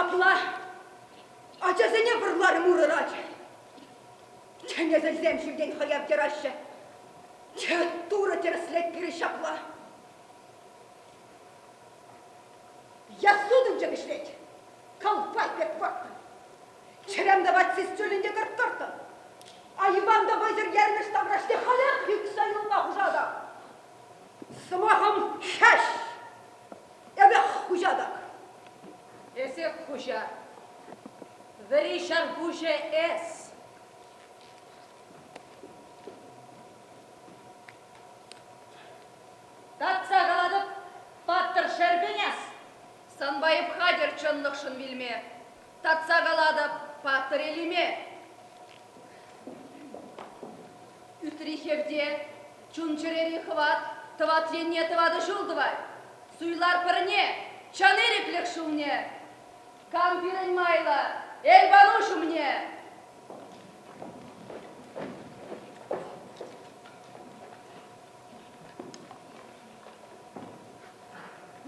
Апла ачасене вӑрларӑм урӑрать. Чӗнесӗсем ҫӳлтен хӑяв тӑраҫҫӗ. Турӑ тӗрӗслет пирӗн ҫапла. Ясудӑнчӑк ӗҫлет. Калпай пек вӑрттӑн. Чӗрем тӑвать сисчулӗн те кӑрттӑрттӑн. Айӑпан та вӑйсӑр ермӗш таврашне халех ӳксе юлма хушатӑп. Сӑмахӑм хӗҫ! Эпӗ хуҫа так. Эсӗ хуҫа. Вӗри ҫарпуҫӗ эс. Татса калатӑп, паттӑр Шерпенес, санпа эп хатӗр чӑнлӑхшӑн вилме. Татса калатӑп, паттӑр Элиме! Ӳтри хевте, чун-чӗрери хӑват тӑват енне тӑватӑ ҫул тӑвать. Суйлар пӗрне, чӑн ирӗклӗх ҫулне. Кам пирӗн майлӑ, Эльпануҫ умне!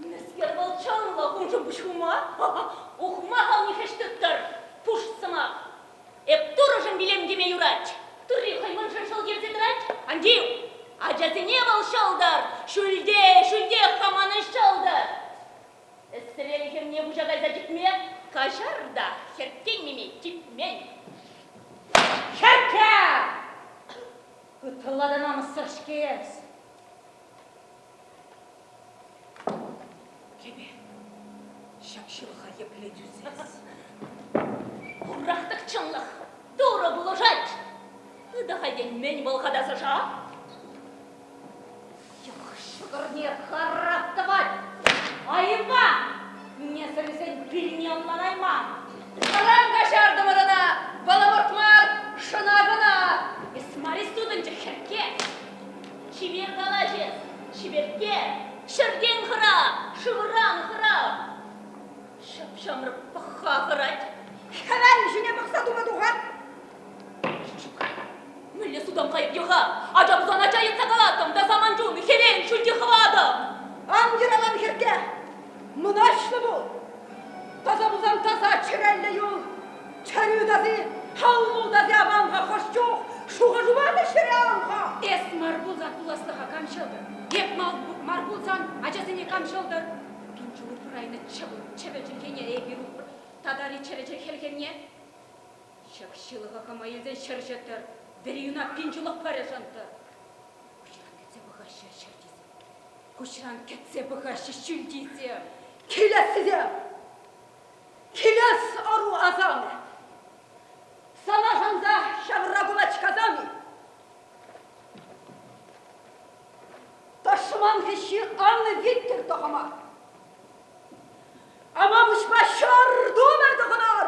Мӗскер вӑл чӑнлӑ уншӑн пуҫ хума? Ухмахал нихӗҫ тыттӑр, пуш сӑмах! Эп турӑшӑн вилем теме юрать. Турри хӑй мӑншӑн ҫӑл кӗрсе тӑрать. Ан тив, ачасене вӑл ҫӑлтӑр! Ҫӳлте, ҫӳлтех хаманӑн ҫӑлтӑр! Эсрел хӗрне пуҫа кайса чикме каҫар та хӗртеннине типмен. Хӗркке! Ытла та намӑссӑр-ҫке эс. Кӗпе, ҫак ҫылӑха епле тӳсес? Хурах-тӑк чӑнлӑх, турӑ пулӑшать. Ытах этеймен вӑл хатасӑша. Йӑх ҫӑкӑрне харап тӑвать. Айӑпа! Несӗлсен пилне ӑнланайман. Ыран каҫартӑмӑр ӑна, вӑл ӑмӑрт мар, шӑна кӑна. Эс мар-и сутӑнчӑк хӗркке? Чипер калаҫӑн, чиперкке, ҫӗртен хӑра, шывран хӑра. Ҫӑп-ҫамрӑк пӑхха хӑрать. Хӗвел ҫине пӑхса тума тухать. Ҫук, мӗнле судам кайӑк-йӑха? Ача пусан ача йӑтса калатӑм та саман чун хӗвел ҫӳлти хӑватӑм. Ан йӑралан, хӗрке, мӑнаҫлӑ пул. Таса пулсан таса чӗреллӗ юл. Чӗрӳ тати, халмул тати аван-ха хӑш чух, шухӑшупа та ҫӗре аван-ха. Эс мар пулсан пуласлӑха кам ҫӑлтӑр? Эп мар пулсан ачасене кам ҫӑлтӑр? Пин ҫул урайнӑ чӑвӑл чӗвӗл чӗлхене эпир упрӑр, татари чӗрӗ чӗлхене. Ҫак ҫылӑха кӑма илсен ҫӗр ҫӑттӑр, вӗри юна пин ҫулах пӗр ӑшӑнтӑр. Куҫран кӗтсе пӑхаҫҫӗ ҫӗр тисем, куҫран кӗтсе пӑхаҫҫӗ ҫӳл тисем, килессисем. Килес ӑру асамӗ. Сана шанса ҫавра кулачкасам-и? Тӑшман хӗҫҫи аннӑ виттер тӑхӑма. Амапуҫпа ҫӑр тумӗ тӑхӑнар!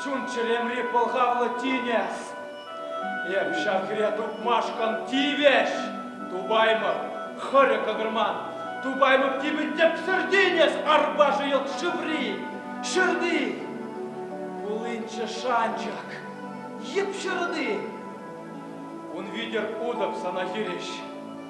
Чун-чӗремри пӑлхавлӑ тинӗс. Эп ҫав хӗре тупмашкӑн тивӗҫ. Тупаймӑп, хӑрӗ кӑкӑрман. Тупаймӑп типӗ тӗпсӗр тинӗс арпашӗ йӑлт шыври, ҫырти. Пулинччӗ шанчӑк, йӗп ҫырти. Ун витӗр утӑп сана хирӗҫ.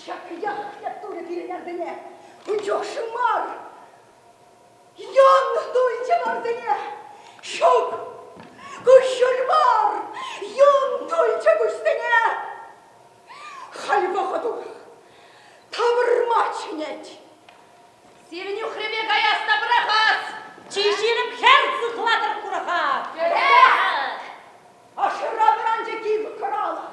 Ҫакӑях турӗ пирӗн арсене, ун чухшӗ мар. Ян туйчӗ арсене, ҫук, куҫҫуль мар, юн туйчӗ куҫсене. Халь вӑхӑт урах, тавӑрма чӗнет. Сирӗн юхрипе каяс та пӑрахас! Чи ҫирӗп хӗр сыхлатӑр курӑха! Хӗре! Ашӑра вӑранчӗ кив хӑралӑх.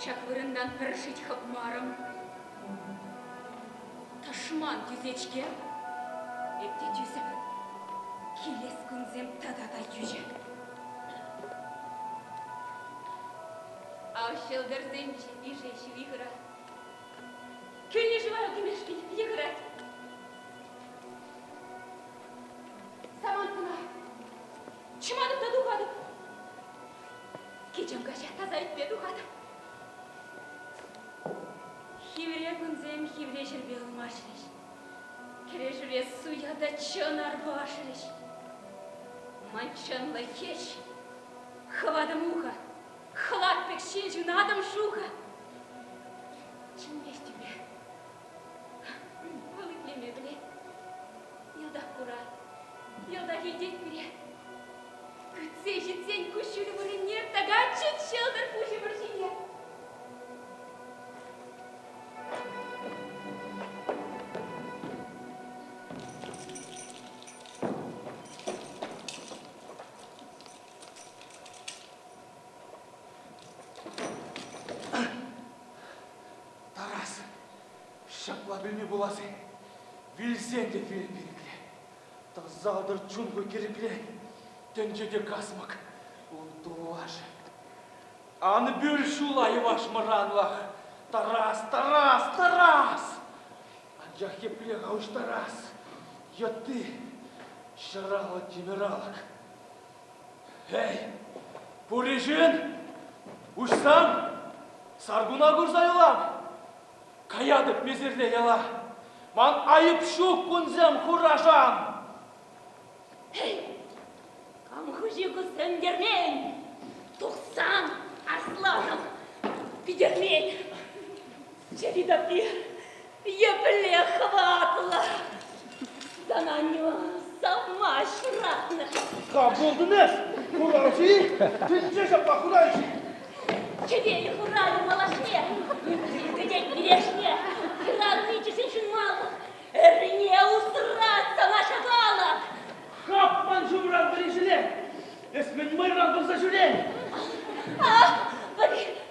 Ҫак вырӑнтан пӗр шит хӑпмарӑм. Тӑшман тӳсет-ҫке. Эпте тӳсӗп. Килес кунсем тата та йӳҫӗ. Ав ҫӑлтӑрсен йышӗ ҫиви хырать. Кӳлнӗ вара кӗмешки питӗ хырать. Самант кӑна. Чӑматӑп та тухатӑп. Кичем каҫа таса ӗҫпе тухатӑп. Хивре кунсем хивре ҫӗрпе ылмашрӗҫ. Кӗрешӳре суя та чӑн арпашрӗҫ. Манчанлӑ хӗҫ, хӑватӑм ухӑ, хӑлат пек ҫил ҫунатӑм шухӑ. Чӗнмест тӳпе. Вӑл итлеме пӗлет. Йӑлтах курать, йӑлтах илтет пире. Кӗтсе ҫитсен куҫҫуль вырӑнне тӑкатчӗт ҫӑлтӑр пуҫӗ вӑрҫине. Тарас, ҫапла пулми пулас-и? Вилсен те вил пирӗнле. Тӑсатӑр чунку кӗрӗпре, тӗнче те касмӑк, ун тулашӗ. Ан пӳл ҫула йӑваш мӑранлах, Тарас, Тарас, Тарас! Анчах епле-ха уҫтарас йытти ҫӑраллӑ тимӗралӑк? Эй, пуришин, уҫсан, саркуна курса юлам! Каятӑп месерле яла. Ман айӑп ҫук кунсем хурашам. Эй, кам хуҫи кусем кермен? Тухсан асланӑм питӗрмен. Чӗри таппи епле хӑватлӑ. Сана аннева савма шыратнӑ. Кам булдың эс? Хуранҫи? Тӗнче ҫапла хуранҫи. Чӗвел хуралӗ малашне, кӗтет килешне, хыранни чӗсеншӗн мал. Эрне усрать сана ҫапала. Хапман ҫумран пӗри ҫӳле. Эс мӗн мӑйран пырса ҫӳрен? А,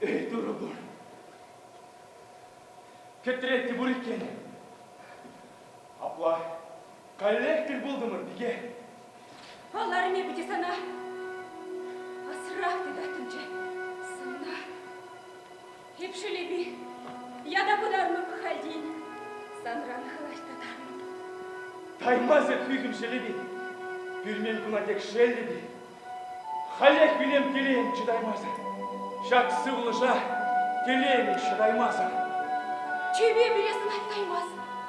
Эй, турӑ пур. Кӗтрет те пур иккен. Апла каллех тӗл пултӑмӑр, пике. Ал арми пути сана. Асрах тытаттӑмччӗ. Лепшелепи, ята пытармӑп хальтен. Санран хӑлаҫ та тармӑп. Таймас эп пӳхӗм ҫӗлепи. Пӳлмен куна тек шеллепи. Халех вилем телейӗм чӑтаймасӑр. Ҫак сывлӑша телеймӗн ҫӑтаймасӑр. Чейпе пире сӑнаттаймас.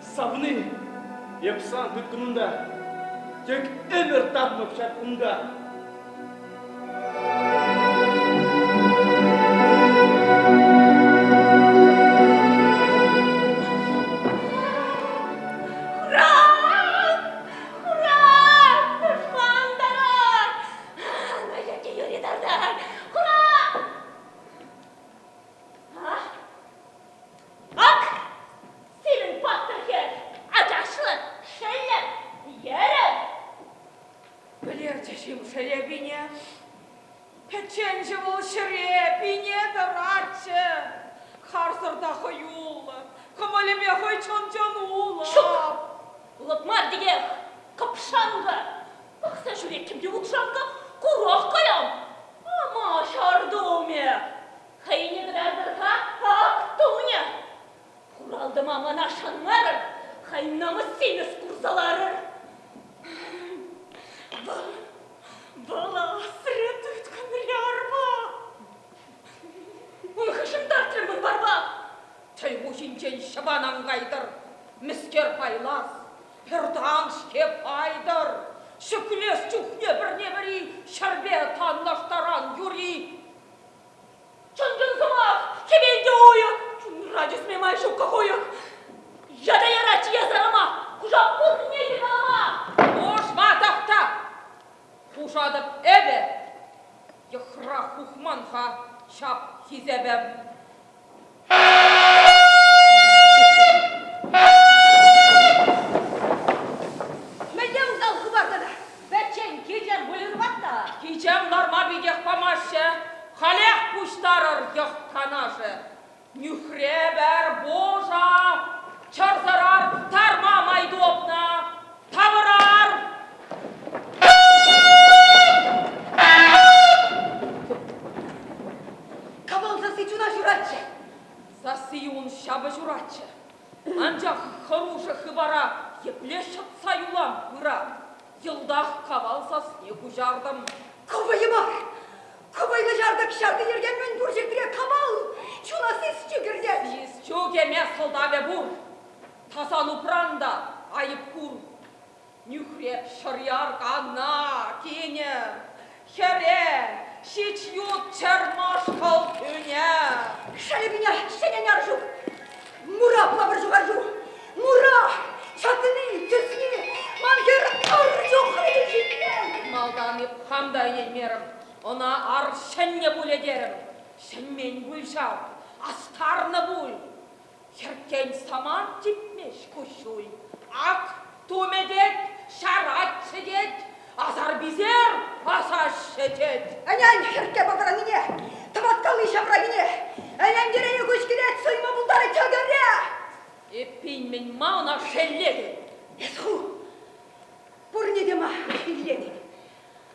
Савни, эп сан тыткӑнунта тек ӗмӗр татмӑп ҫак кунта. Сирӗн паттӑрсем ачашлӑн шеллӗр, йӗрӗр. Пӗлерчӗ-шим шеле пине? Пӗчченҫӗ вӑл ҫӗре пине тӑратчӗ. Харсӑр та хӑюллӑ, кӑмӑлӗпе хӑй чӑн-чӑн улӑп. Ҫук, улӑп мар текех, кӑпшанкӑ. Пӑхса ҫӳреттӗм те укҫанкӑ, курах каям. Ама ҫар тумӗ, хӑйне кӑтартӑр-ха, ак тумӗ. Хуралтӑма мана шанмарӑр, хай намӑссемес курса ларӑр. Вӑл асрӗ тыткӑнри арба. Ун хышӑнтартрӗ мӑн барба. Чӑй хуҫинчен ҫӑпан ан кайтӑр, мӗскер пайлас, хӗртан-ҫке пайтӑр. Ҫӗклес чухне пӗрне-пӗри ҫӗрпе танлаштаран юри. Чӑн-чӑн сӑмах! Хӗвелтӗ уйӑх! Чунра тӳсме май ҫуккӑ хуйӑх! Ята яратчӗ ясарӑма! Хуша пуррине йӑталама! Ӑшма тахта! Хушатӑп эпӗ! Йӑхра хухман-ха ҫап хисепӗм! Мӗнле усал хыпар тата? Пӗччен кичем выльӑрпа та. Кичем ларма питех памаҫҫӗ. Халех пуҫтарӑр йӑх-канашӗ. Нӳхрепӗр, божа! Чӑрсӑрӑр, тарма май тупнӑ! Тавӑрар! Кӑмӑл сасси чуна ҫуратчӗ. Сасси ун ҫапӑ ҫуратчӗ. Анчах хӑрушӑ хыпара епле ҫӑтса юлам пыра? Йӑлтах кавал сасне куҫартӑм. Ку вӑйӑ мар. Ку вӑйлӑ ҫартӑк ҫарти йӗрке мӗн пур ҫӗртре кавал! Чуна сисчӗ кӗртет! Сисчӳ кӗме сӑлтавӗ пур. Тасан упран та айӑп кур. Нӳхре шӑряркана кӗнӗ. Хӗре ҫич ют чӑрмаш халтӳне. Шайрине ҫӗненер ҫук. Мура пулапӑр ҫукар ҫук. Мура! Ҫатӑни, тӗсни, ман хӗр ыр чухлӗ ҫитмен. Малтан хам та итлеймерӗм, ӑна ар ҫӗннӗ пулӗ терӗм. Ҫӗнмен пуль ҫав, астарнӑ пуль. Хӗртен самант типмест куҫҫуль. Ак тумӗ тет, ҫаратчӗ тет, асар-писер пасаҫҫӗ тет. Ӗнен хӗртке пӑкӑрӑннине, тӑваткалли ҫавранине, ӗнентерене куҫ килет суйма пултарать ҫӑкӑрне. Эппин мӗн ма ӑна шеллетӗн? Эс ху пурне те ма шеллетӗн?